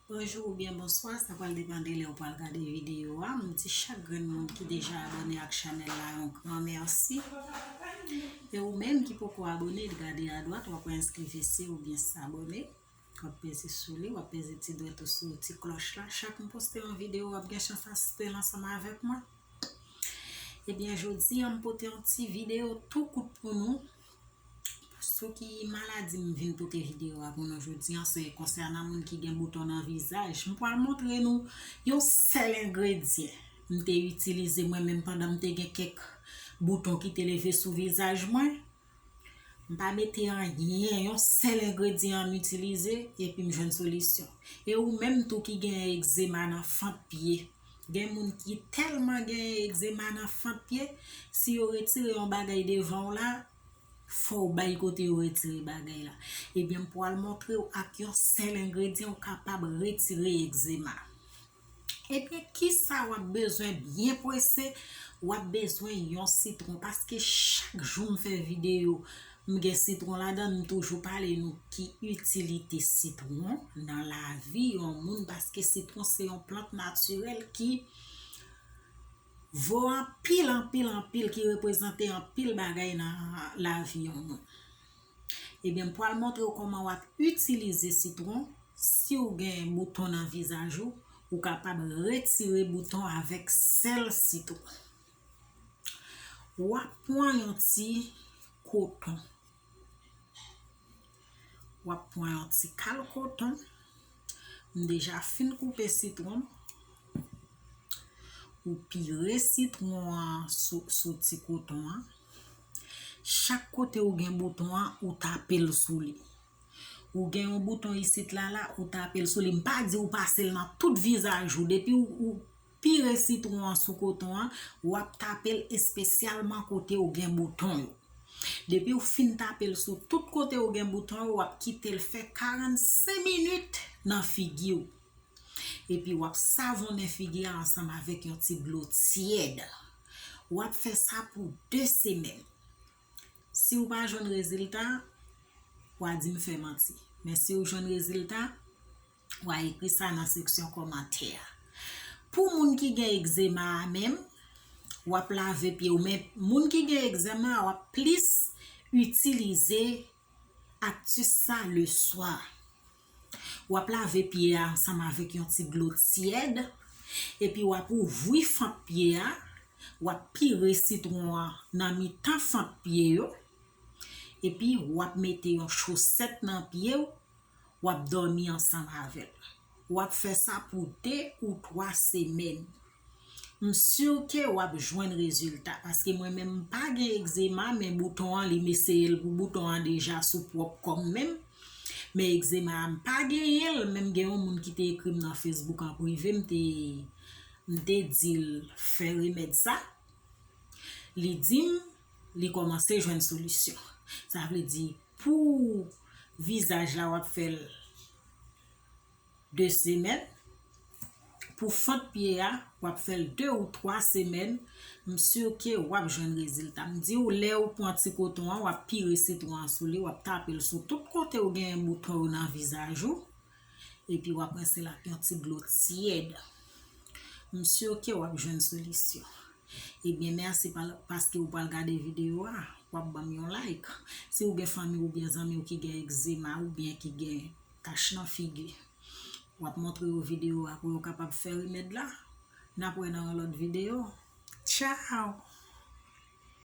Bonjou ou byen bonswa, sa pral depande lè ou pral gade videyo a, m di chak grenn moun ki deja abone ak chanèl la yon gran mèsi, e ou menm ki poko abone li gade a dwat wap wè enskri vese ou byen sabone, wap peze sou li, wap peze ti dwèt ou sou ti klòch la, chak m poste yon videyo wap gen chans asiste l ansanm avèk mwen, e byen jodi a m pote yon ti videyo tou kout pou nou. Sou ki maladi m vin pote video a pou nou jodi an se konsènan moun ki gen bouton nan vizaj. M pral montre nou yon sèl engredyen m te itilize mwen menm pandan m te gen kèk bouton ki te leve sou vizaj mwen. M pa mete anyen, yon sèl engredyen m itilize epi m jwenn solisyon. E ou menm tou ki gen egzema nan fant pye Gen moun ki tèlman gen egzema nan fant pye, si yo retire yon bagay devan w la, fò w bay kote yo retire bagay la. Ebyen m pwal montre w ak yon sèl engredyan ou kapab retire egzema. Ebyen kisa w ap bezwen byen prese, w ap bezwen yon sitwon paske chak jou m fè videyo M gen sitron ladan m toujou pale nou ki itilite sitron nan lavi yon moun paske sitron se yon plant natirèl ki vo anpil anpil anpil ki reprezante anpil bagay nan lavi yon moun ebyen m pwal montre w koman wap itilize sitron siw gen bouton nan vizaj ou ou kapab retire bouton avèk sèl sitron. Wap pwan yon ti koton. Wap pwan yon ti kal koton. M deja fin koupe sitwon. Ou pire sitwon an sou ti koton an. Chak kote ou gen bouton an, ou tape l sou li. Ou gen yon bouton isit la la, ou tape l sou li. M pa di ou pase l nan tout vizaj ou. Pire sitwon an sou koton an, wap tape l espesyalman kote ou gen bouton yo. Depi ou fin tape l sou tout kote ou gen bouton yo wap kite l fè 45 minit nan figi ou. Epi wap savonnen figi a ansanm avèk yon ti dlo tyèd. Wap fè sa pou 2 semèn. Si ou pa jwenn rezilta, wa di m fè manti. Men si ou jwenn rezilta, Wa ekri sa nan seksyon kòmantè a. Pou moun ki gen egzema a menm, wap lave pye ou men moun ki gen egzema a wap plis itilize aktis sa le swa. Wap lave pye a ansanm avèk yon ti dlo tyèd epi wap ouvri fant pye a, wap pire sitwon an nan mitan fant pye yo epi wap mete yon chosèt nan pye ou w ap dòmi ansanm avè l. W ap fè sa pou 2 ou 3 semèn. M si w ke w ap jwenn rezilta paske mwen menm m pa gen egzema men bouton an li m eseye l pou bouton an deja sou pwòp kò m menm. Men egzema a m pa genyen l menm gen yon moun ki te ekri m nan Facebook an prive m te m te di l fè remèd sa li di m li kòmanse jwenn solisyon. Sa vle di Pou vizaj la wap fèl 2 semèn pou fant pye a wap fèl 2 ou 3 semèn m sur ke wap jwenn rezilta m diw lèw pran ti koton an wap pire sitron an sou li wap tapel sou tout kotew genyen bouton yo nan vizaj ou Epi wap rinse l ak yon ti dlo tyèd. M sur ke wap jwenn solisyon. Ebyen merci paske ou pral gade video a, wap banm yon like. Si ou gen fanmi oubyen zanmi w ki gen ekzema oubyen ki gen tach nan figi, wap montre yo video a pou yo kapab fè remèd la. Nap wè nan yon lòt video. Tchao!